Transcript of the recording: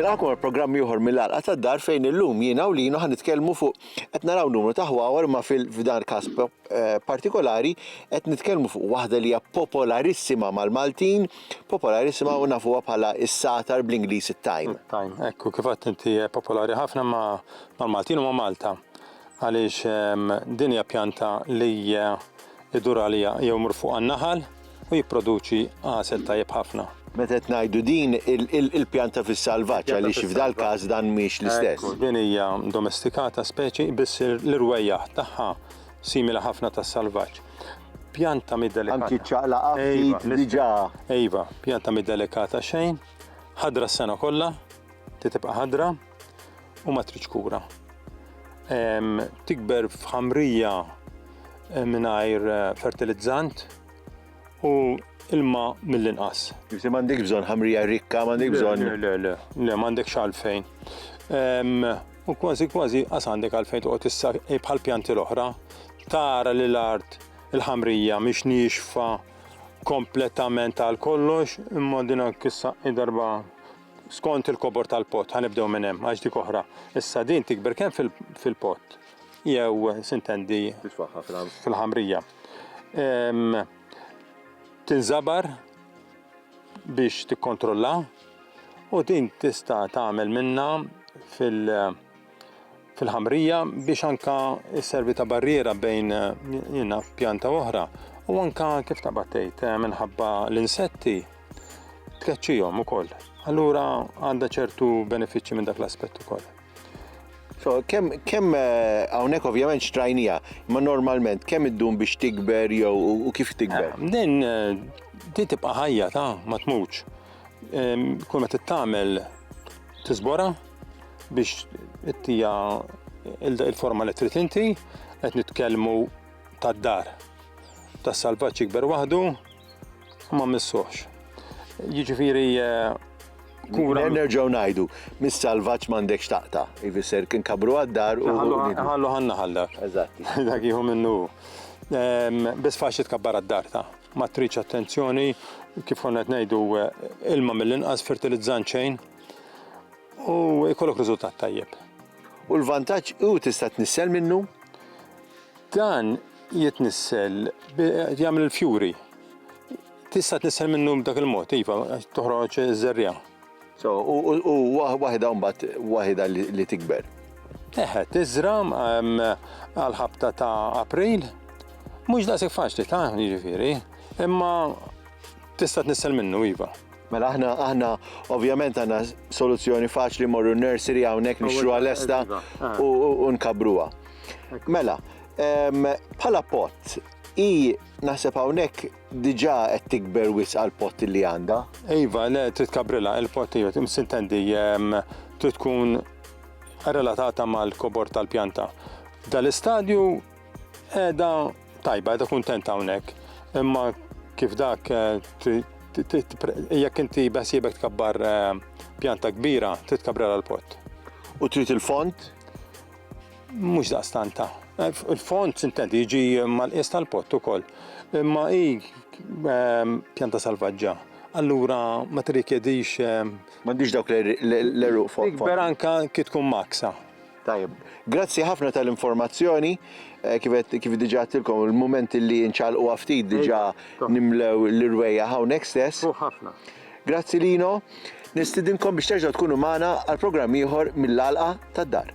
Nilqgħukom għal programm ieħor mill-għalqa tad-dar fejn illum jiena u linu ħan nitkellmu fuq qed naraw numru ta' ħwawar ma fil-fdar każ eh, partikolari qed nitkellmu fuq waħda li hija popolarissima mal-Maltin popolari nisimgħu u nafuha bħala s-sagħtar bl-Ingliż it-thyme. It-thyme, hekk u kif għedt inti hija popolari ħafna ma' mal-Maltin u ma' Malta għaliex din hija pjanta li jdur għaliha jew imur fuqha n-naħal u jipproduċi għasel tajjeb ħafna. Meta qed ngħidu din il-pjanta fis-salvaġġ għaliex f'dal-każ dan mhix l-istess. Hekk u din hija domestikata speċi biss l-irwejjaħ tagħha simili ħafna tas-salvaġġ. pjanta mid-delikata. Anki ċaqlaqa ftit diġà. Ejva, pjanta mid-delikata xejn, ħadra s-sena kollha, titibqa' ħadra u ma tridx kura. Tikber f'ħamrija eh, mingħajr eh, fertilizzant u ilma mill-inqas. Jifti m'għandek bżonn ħamrija rikka, m'għandek bżonn. Le, le, le, m'għandek xalfejn. U kważi kważi qas għandek għalfejn toqgħod issa eh, bħal pjanti l-oħra, tara li l-art il-ħamrija mhix nixfa kompletament għal kollox, imma din kissa darba skont il-kobor tal-pot, ħanibdew minn hemm għax dik oħra. Issa din tikber kemm fil-pot jew sintendi fil-ħamrija. Tinżabar biex tikkontrolla u din tista' tagħmel minna fil- fil-ħamrija biex anka servi ta' barriera bejn jina pjanta oħra u anka kif ta' battejt eh, minħabba l-insetti tkeċċijom u koll. Allura għanda ċertu benefiċċji minn dak l-aspett ukoll. So, kemm kem, eh, hawnhekk ovvjament xtrajnija, ma normalment kemm iddum biex tikber jew u kif tikber? Eh, din eh, din tibqa' ħajja ta' ma tmutx. Kull ma tittamel tiżbora biex ittija il-forma li trid inti qed nitkellmu tad-dar. Tas-salvaġġ jikber waħdu, u ma mmissuhx. Jiġifieri kura. Nerġgħu ngħidu, mis-salvaġġ m'għandekx taqta', ifisser kien kabru għad-dar u. Ħallu ħan-naħal dak. Eżatt. Dak jieħu minnu hu. Biss faċli tkabbar għad-dar ta'. Ma tridx attenzjoni, kif konna qed ngħidu ilma mill-inqas fertilizzant xejn u jkollok riżultat tajjeb. U l-vantaġġ hu tista' tnissel minnu? Dan jitnissel, jagħmel il-fjuri. Tista' tnissel minnu b'dak il-mod, iva, toħroġ żerriegħa. So, u waħda mbagħad waħda li tikber. Eħe, tiżra għal-ħabta ta' April, mhux daqshekk faċli ta' jiġifieri, imma tista' tnissel minnu iva. Mela aħna aħna ovvjament għandna soluzzjoni faċli morru nursery hawnhekk nixtruha lesta u nkabruha. Mela, bħala pot, i naħseb hawnhekk diġà qed tikber wisq għal pot li għandha. Iva, le trid kabrilla il-pot jew tintendi trid tkun relatata mal-kobor tal-pjanta. Dal-istadju Qiegħda tajba, qiegħda kuntenta hawnhekk, imma kif dak eh, jekk inti beħsiebek tkabbar eh, pjanta kbira, trid tkabbar għal pot. U trid il-font? Mhux daqstanta. Eh, il-font intendi jiġi mal-qies tal-pot ukoll. Imma hi ehm, pjanta salvaġġa. Allura ma tirrikjedix ehm, M'għandix dawk l-eruq font. Ikber anka kif tkun maksa. Tajjeb. Grazzi ħafna tal-informazzjoni. Eh, kif qed- kif diġà għattilkom il-mument li nċalqu ftit diġà Ejda, nimlew l-irwejja hawnhekk stess. Fuq ħafna. Grazzi Lino. Nistidinkom biex terġgħu tkunu magħna għal programm ieħor mill-għalqa tad-dar.